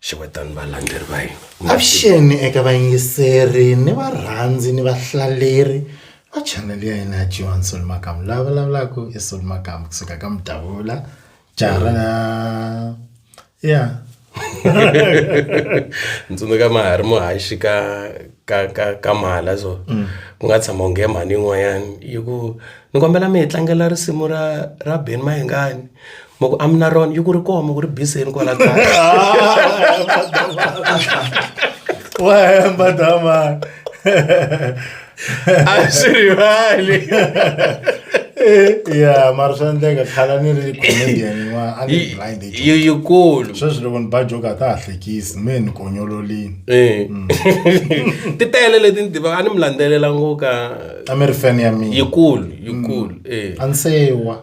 xewetani valandzeri va hina avuxeni eka vayingiseri ni varhandzi ni vahlaleri va chanele ya hina ya jiwan sol makamu lava vulavulaka i sol makamu kusuka ka mudavula jara ya ntsundzuka mahari muhaxi ka ka ka ka mala so mm. ku nga tshama unge mhani yin'wanyani yi ku ni kombela mi hi tlangela risimu ra ra ben mahengani ma ku amina ron yi ku ri koma ku ri biseni kwala kaya wa hemba damani a swi rivali ya mara swa endleka khala ni ri comedian yin'wana a ni blind age yi yikulu sweswi loko ni ba joke a ta ha hlekisi me ni konyololini Eh. ti tele leti ni tivaka a ni mi landzelela ngo ka a mi ri fan ya mina yikulu yikulu eh a ni sewa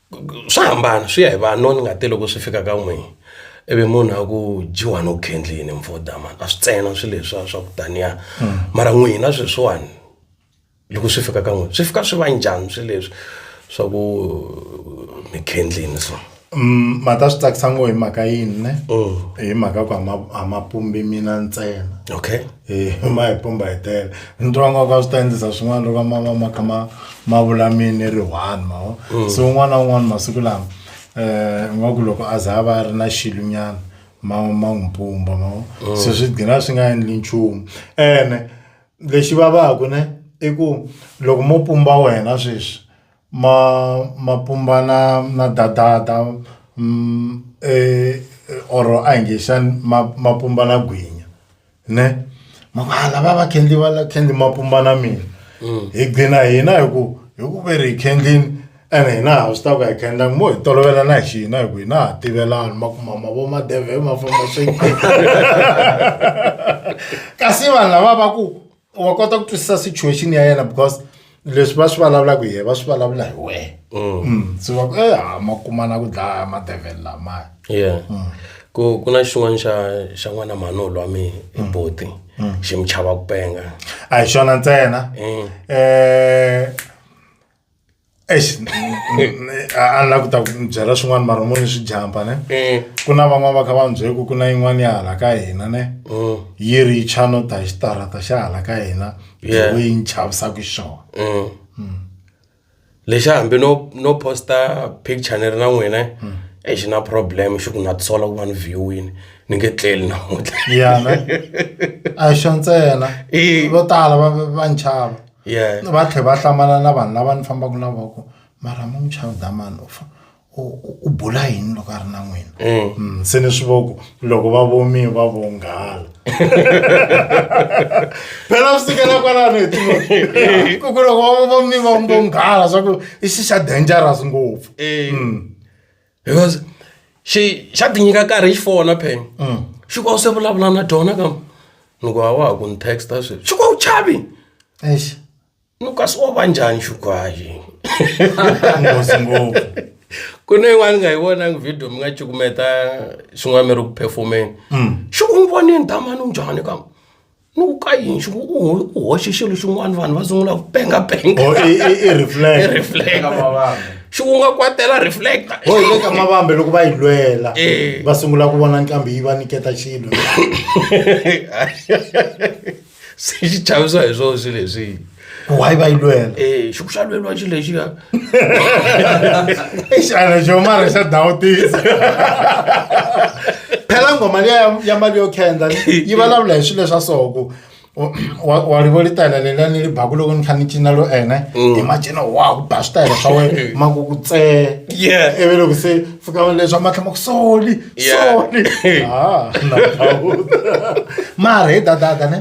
swa hambana swi ya hi vanhu no ni nga te loko swi fika ka n'wina ivi munhu a ku dyiwa no khendlini mfoda mani a swi tsena swi leswiya swa ku taniya hmm. mara n'wina sweswiwani loko swi fika ka n'wina swi fika swi va njhani swi leswi swa ku mi khendlini so mm, mata swi tsakisa ngo hi mhaka yini ne mm. hi mhaka ku a ma pumbi mina ntsena okay Eh, ma hi pumba hi tele ni twa nga ka swi ta endlisa swin'wana loko ma va ma kha ma ma vula mini ri one ma vo Mm. so un'wana na un'wana masiku lama um nga ku loko a za a va a ri na xilunyana ma ma n'wi pumba ma vo Mm. so swi gina swi nga endli nchumu ene lexi vavaku ne i ku loko mo pumba wena sweswi ma ma pumba na na dadada mm, eh, or a hi nge xani ma ma pumba na gwinya. ne maka lava va khendli va la khendli mapumba na mina mm. hi gcina hina hi ku hi ku ve ri hi khendlini ene hina ha swi ta ku hi khendla mo hi tolovela na hi xihina hi ku hina ha tivelani ma ku mama vo madeve ma famba swi kasi vanhu lava va ku wa kota ku twisisa situation ya yena because leswi va swi vulavulaka hi yena va swi vulavula hi wena mm. mm. so va ku eh ha ma kumana ku dlaya madevhele lamaya yeah mm. ku ku na xin'wana xa xa n'wana manolo wa mina i mm. boti mm. xi mi chava ku penga a hi xona ntsena mm. eh a la ku ta n'wi byela swin'wana mara mo ni swi jampa ne mm. ku na van'wana va kha va byele ku ku na yin'wana ya hala ka hina ne mm. yi ri cha no ta xitarata xa hala ka hina lewe yi ni chavisaka xona mm. lexi hambi no no posta picture ni ri na n'wina e xi na problem xi ku nga tisola ku va ni viewini ni nge tleli namuntlha yana a xo ntsena vo tala va va ni chava va tlhela va hlamala na vanhu lava ni fambaka na voko mara mom child damani u fa u u bula yini loko a ri na n'wina mm. Mm, se ni swi voku loko va vomi va vonghala phela swi sukela kwalano hi tiku ku loko va vomi va vonghala swa ku i xi xa dangerous ngopfu mm. because xi xa ti nyika nkarhi xi fona pheni mm. xi ku a se vulavula na dyona ka ni ku a wa ha ku ni texta sweswi xi ku a wu chavi ni kasi wa va njhani xukwayi nghozi ngopfu ku na yin'wana nga yi vonangi video mi nga cukumeta xin'wana mi ri ku perfomeni mm. xi ku n'wi vonini damani u njhani ka ni ku ka yini xi ku u ho- u hoxe xilo xin'wana vanhu va sungula ku pengapenga Oh, i- i- i reflect. I reflect. xi ku nga kwatela reflector ho hi le ka mavambe loko va yi lwela Eh. va sungula ku vona nqambi yi va niketa xilo se xi chavisa hi swona swi leswi ku hayi va yi lwela eh xiku xa lweliwa xi lexi ka i xana xo mara xa dawutisa phela ngoma liya ya- ya mali yo khendla yi vulavula hi swilo swa so ku wa- wa- wa rivo li tayela leliya ni li baku loko ni kha ni cina lo ene hi macina wa ku ba switayela swa wena ma ku ku tsee yeah ivi loko se fika leswa matlhama ku soli sony ah, mara he dadada ne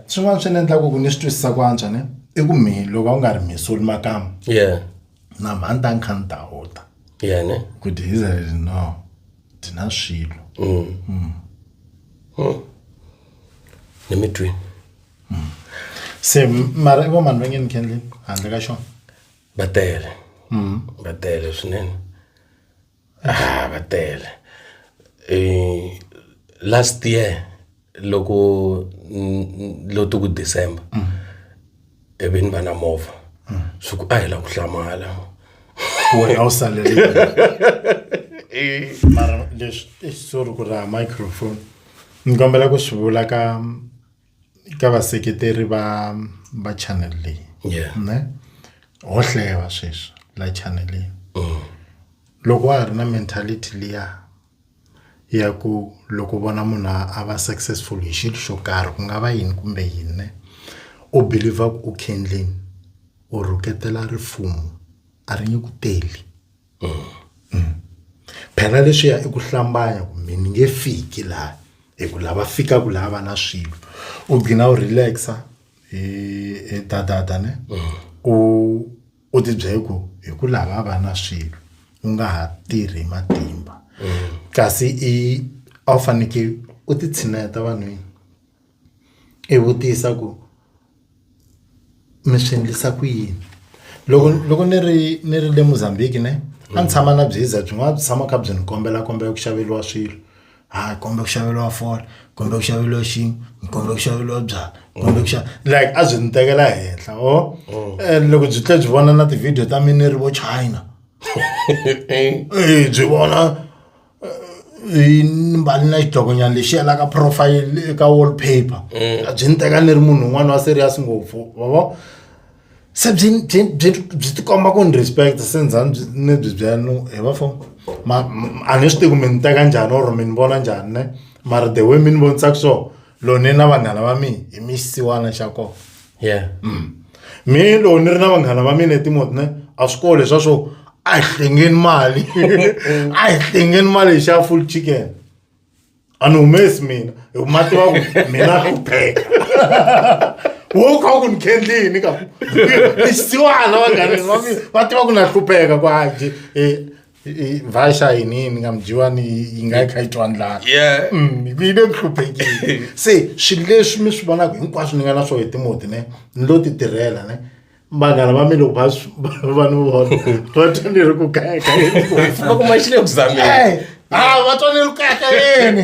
swin'wana swi ni endlaku ku ni swi twisisa ku antswa ne i ku mi loko a wu nga ri misoli makama na mhani ta nkha ni ta huta ku dhi israel no dhi na swilo mm. Mm. Hmm. ni mi twi hmm. se mara i vo mani va nge ni kendleni handle ka xona va tele hmm. va tele swinene Ah va tele last year loko lo ti ku December i vi ni va na movha swi ku a hi la ku hlamala wena a wu salele mara leswi sorry ku raha microphone ni kombela ku swi vula ka. ka vaseketeri va va channel leyi Yeah. ne ho hleva sweswi la channel leyi Mm. loko wa ha ri na mentality liya ya ku loko vona munhu a a va successful hi xilo xo karhi ku nga va yini kumbe yini ne u believer ku u khendleni u rhuketela rifumo a ri nge ku teli phela leswiya i ku hlambanya kumbe ni nge fiki laha hi ku lava fikaka laha va na swilo u gina u relax-a hi hi dadada ne u u tibyela ku hi ku lava va na swilo u nga ha tirhi hi matimba kasi i a wu fanekele u ti tshineta vanhwini. i vutisa ku mi swi endlisa ku yini loko loko ni ri ni ri le Mozambique ne a ni tshama na byeza byin'wana byi tshama kha byi ni kombela kombela ku xaveriwa swilo ha komba ku xaveriwa foni kumbe ku xaveriwa xihi ni kumbe ku xaveriwa byalwa kumbe ku xava like a byi ni tekela henhla or loko byi tlhe byi vona na ti-video ta mina ni ri vo China byi vona. i ni mbali na xidokonyana lexi yelaka profile eka wall paper Mm. a byi ni teka ni ri munhu un'wana wa serious ngopfu vavo se byi byi byi byi tikomba ku ni respect se ndza ni byi- ni byi byela no he bafo ma m- a ni swi tivi ku mi ni teka njhani or mi ni vona njhani ne mara the way mi ni vonisaka so lone na vanghana va mina hi mi xisiwana xa kona yeah mm. mi loko ni ri na vanghana va mina etimoti ne a swi kole swa swo a hi hlengeni mali a hi hlengeni mali hi xa full chicken a ni humesi mina hi ma tiva ku mina ku pheka wo kha ku ni khendli yini ka ni xisiwana vanghana va tiva ku na hlupheka ku haji um eh, vashayinini ndingamdyiwani yi nga yi kha yi twa ndlala mm, yi le nhluphekile se swilo leswi mi swi vonaka hinkwaswo ni nga na swo hi timoti ne ni lo ti tirhela ne vanghana va mi loko va va ni vona va twa ni ri ku kayakayeni va kuma xi le ku zameni a va twa ni ri ku kayakayeni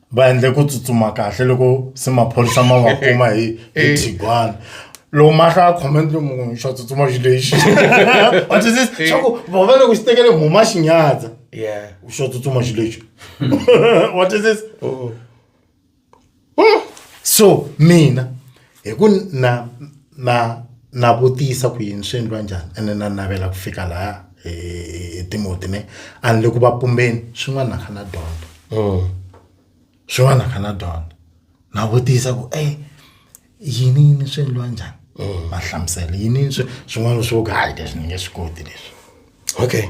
va endle ku tsutsuma kahle loko se maphorisa ma va kuma hi hi thigwana loko mahla a khome ndzi munhu xa tsutsuma xi lexi wa twisisa swa ku vava loko xi tekele mhuma xi nyadza yeah xo tsutsuma xi lexi wa twisisa so mina hi ku na na na vutisa ku yini swi endliwa njhani ene na navela ku fika laha hi hi timoti ne a ni le ku va pumbeni swin'wana kha na dyondza mm. swin'wana kha na dyondza na vutisa ku e yini yini swi endliwa njhani mm. va hlamusela yini swin'wana swo ka hayi leswi ni nge swi koti leswi Okay.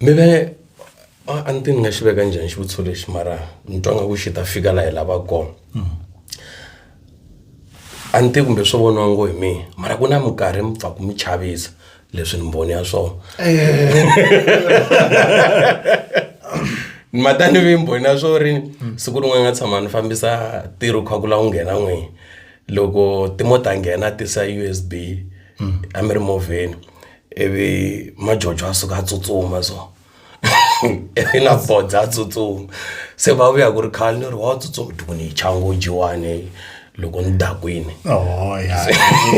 Mi ve a a ni ti ni nga xi veka njhani xivutiso lexi mara ni twa nga ku xi ta fika laha hi lavaka kona a ni tivi kumbe swo voniwa ngo hi mina mara ku na minkarhi mi pfa ku mi chavisa leswi ni mboni ya swona ni mata ni ve mboni ya swo ri siku rin'wana nga tshama ni fambisa ntirho kha ku la wu nghena n'wini loko timota nghena tisa USB a mi ri movheni ivi majojo a suka a tsutsuma so ivi na bodza a tsutsuma se va vuya ku ri khale ni ri wa tsutsuma ti ku ni yi chango jiwani loko ni dakwini oh,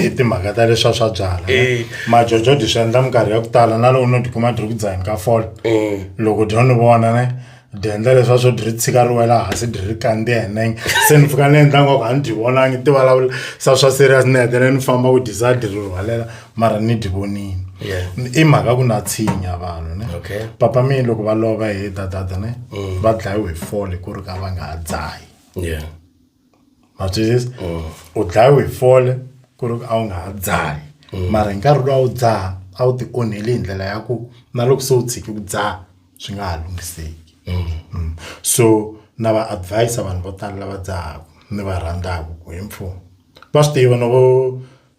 i timhaka ta leswa swa byala eh. majojo dyi swi endla minkarhi ya ku tala na loko no tikuma dyi ri ku dzaheni ka fole eh. loko dyo ni vona ne byi endla leswiya swo dyi ri tshika ri wela hansi dyi ri kandziya hi nenge se ni pfuka ni endla ngwaku a ni dyi vonangi ti vulavula sa swa serious ni hetelela ni famba ku dyisa dyi ri rhwalela mara ni dyi vonile i mhaka ku na tshinya vanhu ne papa mi loko va lova hi dadada ne va dlayiwe hi fole ku ri ka va nga ha dzahi ma twisisa mm. u dlayiwe hi fole ku ri a wu nga ha dzahi mm. mara hi nkarhi lowu a wu dzaha a wu ti onheli hi ndlela ya ku na loko se u tshiki ku dzaha swi nga ha lunghiseki mm. so na va advisa vanhu vo tala lava dzahaka ni va rhandzaka ku hi mfumo va swi tiva no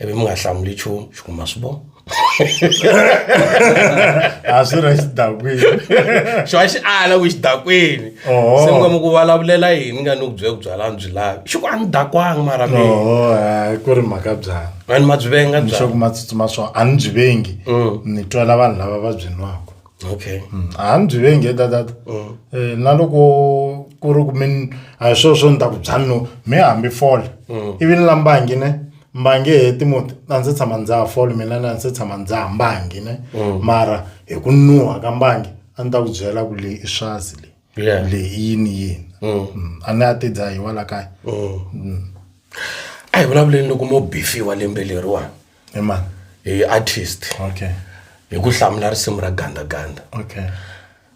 ivi mi nga hlamuli nchumu xi ku ma swi vona a swi ri xidakwini xona xi ala ku xidakwini se mi nga mi ku vulavulela yini nga ni ku byela ku byalani byi lavi xi ku a ni dakwanga mara mi ku ri mhaka byala a ni ma byi venga byalxoku ma tsutsuma swona a ni byi vengi mm. ni twela vanhu lava va byi nwaka okay Mm, a ni byi vengi ta tata Mm. Eh, na loko ku ri ku mi a hi swona swo ni ta ku byani no mi hambi fole Mm. ivi ni la mbangi ne mbangi he timuti a ndzi tshama ndza ha fole mina na ndzi tshama ndza ha mbangi ne Mm. mara hi ku nuha ka mbangi a ni ta ku byela ku leyi i swazi leyi Yeah. leyi i yini yini Mm. Mm, a ni a ti dzahiwa la kaya Mm. a hi vulavuleni loko mo bifiwa lembe leriwani hi mani hi artist okay hi ku hlamula risimu ra gandaganda okay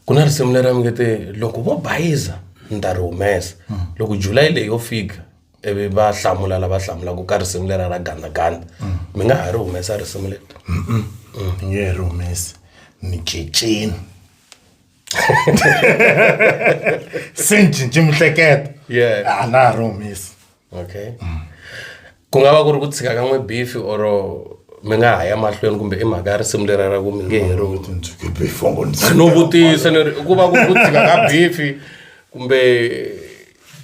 ku na risimu leri nge te loko vo bayiza ni ta ri humesa hmm. loko july leyi yo fika ivi va hlamula lava hlamulaka ka risimu lera ra gandaganda hmm. mi nga ha ri humesa risimu leri hmm. ni nge ri humesi ni ceceni se ni cinci mihleketo a na ha ri humesi okay mm. ku nga va ku ri ku tshika ka n'we bifi or mi nga ha ya mahlweni kumbe i mhaka ya risimu leri ra ku mi nge heriwino vutisa ni ri ku va ku ku tshika ka bifi kumbe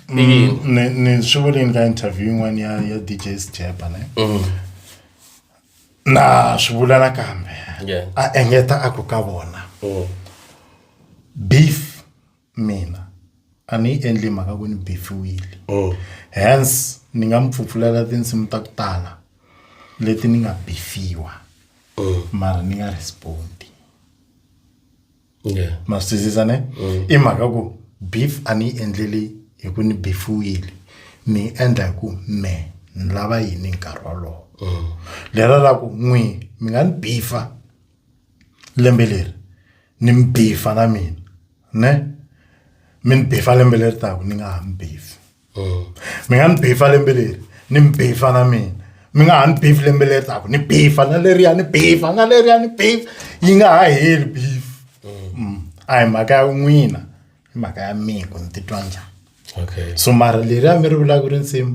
mm, ni swi vuleni ka interview yin'wana ya ya dj sjeba ne mm. na swi vula nakambe a engeta a ku ka vona mm. beef mina a ni yi endli mhaka ku ni bifiwile mm. hence ni nga mi pfupfulela tinsimu ta ku tala leti ni nga bifiwa mm. mara ni nga respondi ma swi twisisa ne mm. i mhaka ku beef a ni yi endleli hi ku ni bifiwile ni yi endla hi ku me ni lava yini nkarhi wolowo lero ra ku n'wi mi nga ni bifa lembe leri ni mi bifa na mina ne mi ni bifa lembe leri taku ni nga ha mi bifi mm. mi nga ni bifa lembe leri ni mi bifa na mina mi nga ha ni bifi lembe leri taku ni bifa na leriya ni bifa na leriya ni bifa yi nga ha heli bifi mm. mm. a hi mhaka ya n'wina i mhaka ya mina ku ni titwa njhani okay so mara leriya mi ri vulaka ri nsimu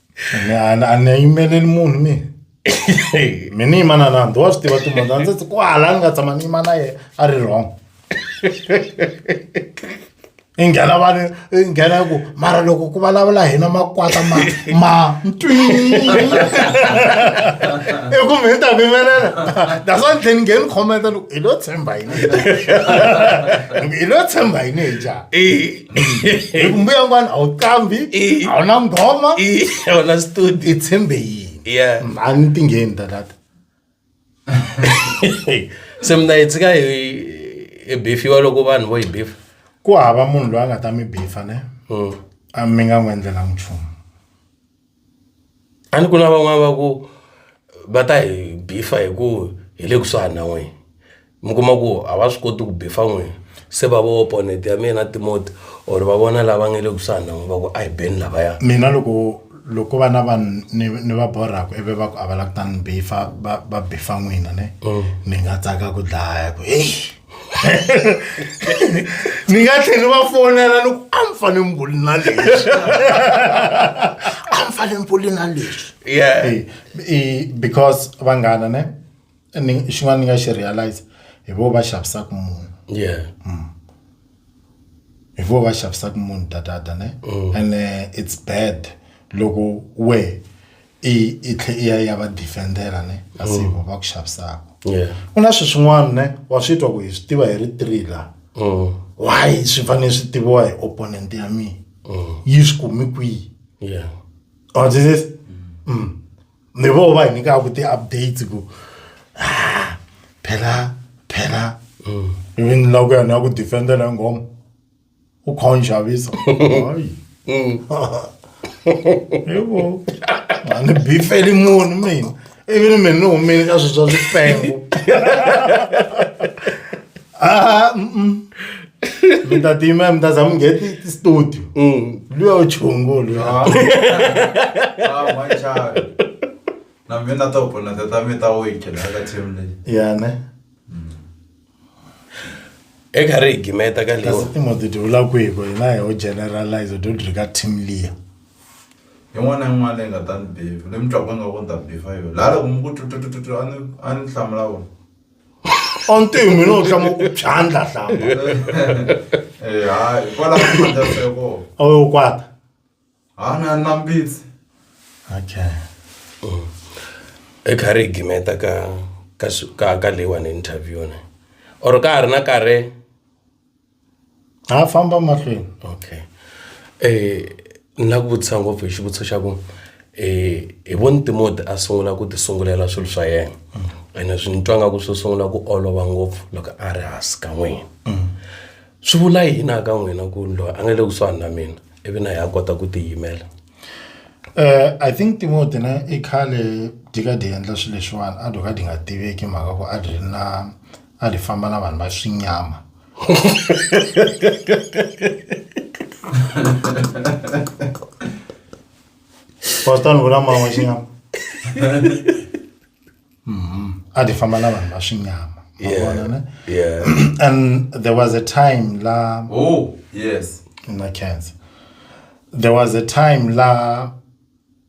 Ni a ni- a ni yimeleli munhu mina mi ni yima na nandzi wa swi tiva timunhu ndzi ti kwala ni nga tshama ni yima na yena a ri wrong i nghena vanhu i nghena ku mara loko ku vulavula hina makwata ma ma ntwi i ku mi ta mi yimelela that's why ni tlhela ni ngheni khometa loko hi lo tshemba yini hi lo tshemba yini hi njhani hi ku mbuya n'wana a wu qambi a wu na nghoma a wu na studio i tshembe yini yeah a ni tingheni tatata se mina hi tshika hi hi bifiwa loko vanhu vo hi bifa ku hava munhu loyi a nga ta mi bifa ne hmm. a mi nga n'wi endlelanga nchumu A ni ku na van'wani va ku va ta hi beef-a hi ku hi le kusuhani na n'wina mi kuma ku a va swi koti ku beef-a n'wina se va voho opponent ya mina Timoti or va vona lava nga le kusuhani na n'wina va ku a hi beni lavaya. Mina loko loko ko va na vanhu ni ni va borhaka ivi va ku a va lava ku ta ni beef-a va va beef-a n'wina ne ni nga tsaka ku dlaya ku heyi. ni nga tlheli va fonela loko a mi fane mi vuli na leswi a mi fane mi vuli na leswi yeah because vanghana ne ni xin'wana ni nga xi realize hi vo va xavisaka munhu yeah mm. hi vo va xavisaka munhu tatata ne mm. and uh, it's bad loko we i i tlhe i ya ya va defendela ne kasi mm. va ku xavisaka ku na swi swin'wana ne wa swi twa ku hi swi tiva hi ri three la mm. why swi fanele swi tiviwa hi opponent ya mina mm. yi swi kumi kwihi or this is mm. ni vo va hi nyikaka ti-updates ku ah, phela phela even la ku ya ni ya ku defendela nghoma u kha u ni xavisa hayi yebo a ni bifeli munhu mina ivi ni mina ni humile ka swilo swa swipengo Ah, mm-mm. mi ta tima mi ta za mi nge ti- ti studio luya u chungu luya Ah, ah, my child. Na mina ta opona tata mi ta wake la ka team leyi. ya ne eka ri higimeta ka leyi kasi timhoti ti vula ku hi ku hina hi ho generalize do dri ka team liya yin'wana yin'wana leyi nga ta ni befu leyi mi twaka nga ku ni ta befa yona laha loko mi ku tututututu a ni a ni hlamula vona ontihi mina u tlama ku phyandla hlamba eh hayi hikwalaho ka matirhiseko a wu yo kwata ha na na mbitsi okay mm. i kha ri gimeta ka ka ka ka leyiwani interview ne or ka ha ri na karhi ha famba mahlweni okay eh na ku vutisa ngopfu hi xivutiso xa ku eh hi voni timoti a sungula ku ti sungulela swilo swa yena mm. ene swi ni twa nga ku swi sungula ku olova ngopfu loko a ri hansi ka n'wina mm. swi vula yini a ka n'wina ku loyi a nga le kusuhani na mina ivi na hi ya kota ku tiyimela Eh I think Timothy na i khale di ka di endla swilo leswiwani a doka di nga tiveki mhaka ku a ri na a ri famba na vanhu va swinyama Pastor ni vula mama xinyama mm-hmm. a ti famba na vanhu va swinyama vona ne and there was a time la oh yes na cancer there was a time la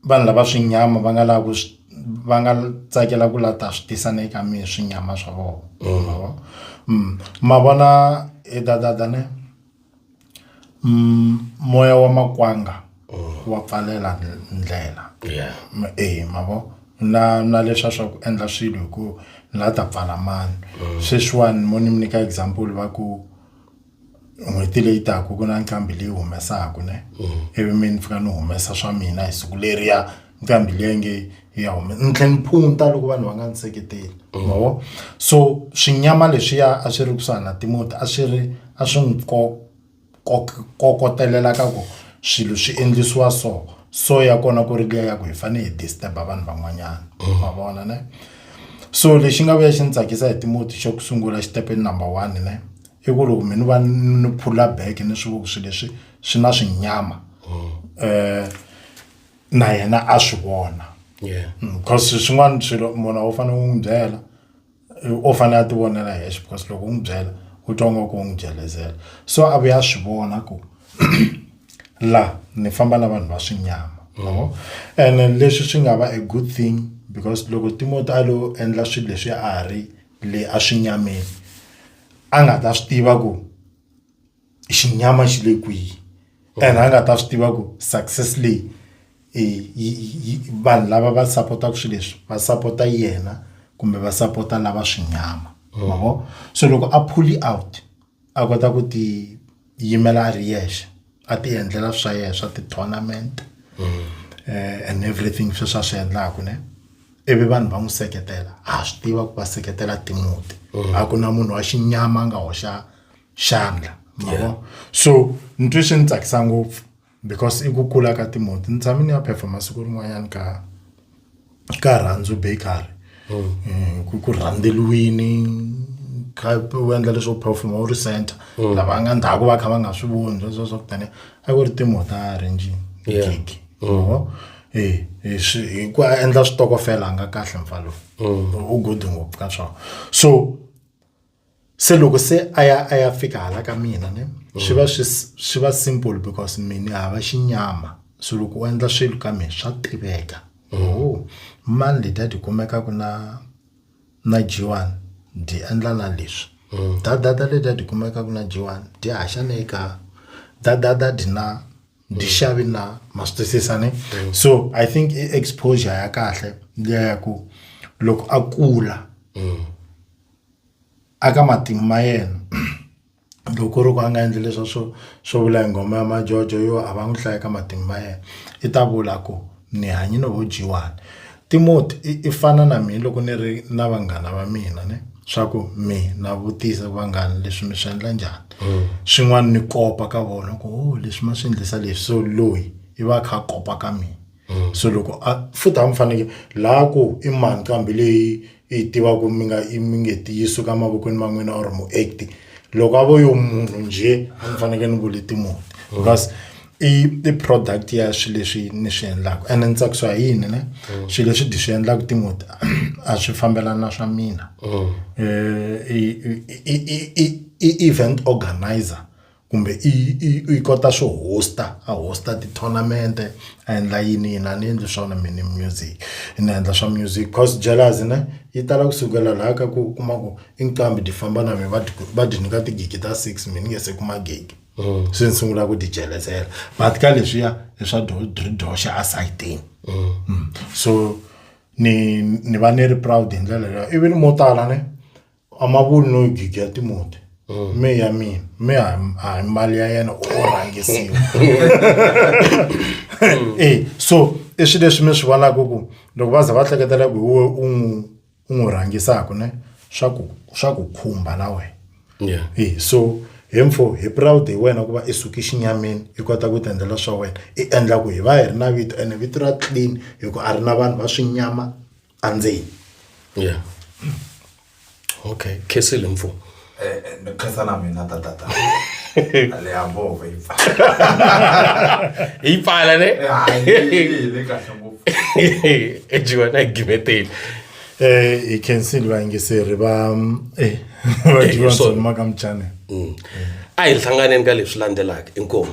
vanhu lava swinyama va nga lava ku va nga tsakela ku lata swi tisa ne ka mi swinyama swa vona mm. Mm. ma vona e dadada ne Mm, moya wa makwanga wa pfalela n- ndlela Yeah. Ma- eh mavo na na leswa swa ku endla swilo hi ku la ta pfala mani sweswiwani mo ni mi nyika example va ku n'hweti leyi taka ku na nqambi leyi humesaka ne ivi mi ni fika ni humesa swa mina hi siku leriya nqambi leyi nge ya hume ni tlhela ni phunta loko vanhu va nga ni seketeli ma vo so swinyama leswiya a swi ri kusuhana na timoti a swi ri a swi n'wi ko ko kokotelela ka ku swilo swi endlisiwa so so ya kona ku ri liya ya ku hi fanele hi disturb-a vanhu van'wanyana ma vona ne so lexi nga vuya xi ni tsakisa hi timoti xo sungula xitepe number one ne i ku loko mi ni va ni phula bag ni swi vona ku swilo leswi swi na swinyama . na yena a swi vona yeah. Mm, because swin'wana swilo munhu u fanele u n'wi byela u fanele a ti vonela hexe because loko u n'wi byela u twa nga ku u n'wi byelezela so a vuya a swi vona ku la ni famba na vanhu va swinyama mm-hmm. ene leswi swi nga va a good thing because loko timoti a lo endla swilo leswi a ri le a swi nyameni a nga ta swi tiva ku xinyama xi le kwihi and a nga ta swi tiva ku success leyi i yi yi vanhu lava va sapotaka swilo leswi va sapota yena kumbe va sapota lava swinyama ma vo so loko a pulley out a kota ku ti yimela a ri yexe a ti endlela swa yena swa ti-tournament and everything sweswi a swi endlaka ne ivi vanhu va n'wi seketela ha swi tiva ku va seketela timbuti a ku na munhu wa xinyama a nga hoxa xandla yeah. so ntwi swi ni tsakisa ngopfu because i ku kula ka timoti ni tshame ni ya phepha masiku rin'wanyana ka ka rhandzu bakery mm. eh, ku ku rhandzeliwini u endla leswo performa u ri center mm. lava nga ndhaku va kha va nga swi voni sweswo swa kutani a ku ri timota arrange gig mm. eh, eh, hi ku endla switokofela a nga kahle mfalo mm. u good ngopfu ka swona so se loko se a ya a ya fika hala ka mina ne mm. swi va swi swi va simple because mina hava xinyama so loko u endla swilo ka mina swa tiveka mm. oh mani leta ti kumeka ku na na jiwani di endla na leswi mm. dadada leta ti kumeka ku na jiwani di haxa ne ka dadada di na di xavi na ma swi twisisa ne so i think i exposure ya kahle liya ya ku loko a kula a ka matimu ma yena loko ku ri ku a nga endli leswa swo swo vula hi nghoma ya majojo yo a va n'wi hlaya ka matimu ma yena i ta vula ku ni hanye no dyiwani Timoti i i fana na mina loko ni ri na vanghana va mina ne swa ku mi na vutisa vanghana leswi mi swi endla njhani swin'wana ni kopa ka vona ku leswi ma swi endlisa leswi so loyi i va a kha a kopa ka mina. mm. so loko a futhi a mi faneke laha ku i mani kambe leyi i yi tivaka mi nga i mi nge ti yi suka mavokweni ma n'wina or muact loko a vo yo munhu njhe a ni faneke ni vule timuti mm. because mm. i i product ya swilo leswi ni swi endlaka ene ni tsakisiwa hi yini ne mm. swilo leswi di swi endlaka timoti a swi fambelana na swa mina mm. eh, i event organizer kumbe i i i kota swo host a host ti-tournament a endla yini yini a ni endli swona mina music ni endla swa music course Jalas ne yi tala kusukela laha ka ku kuma ku i nqambi ti famba na mina va ti va ti nyika tigigi ta six mina ni nge se kuma gigi mm. se ni sungula ku ti jelesela but ka leswiya i swa doxa a sayitini mm. mm. so ni ni va ni ri proud hi ndlela leyo ivi ni mo tala ne a ma vuli no jija timoti mm. me ya mina me a hi mali ya yena u rhangisiwa mm. e so i swilo leswi mi swi vonaka ku loko va za va hleketela ku we u n'wi u n'wi rhangisaka ne swa ku swa ku khumba na wena e so hi mfo hi proud hi wena ku va i suki xinyamini i kota ku tiendlela swa wena i endla ku hi va hi ri na vito ene vito ra clean hi ku a ri na vanhu va swinyama andzeni ya okay khesile mfo ni khensa na mina tatata le ya movha yi pfala yi pfala ne le kahle ngopfu ejiwa na gimeteli eh hi khensile vayingiseri va eh va jiwa maka mchane a hi hlanganeni ka leswi landzelaka inkomu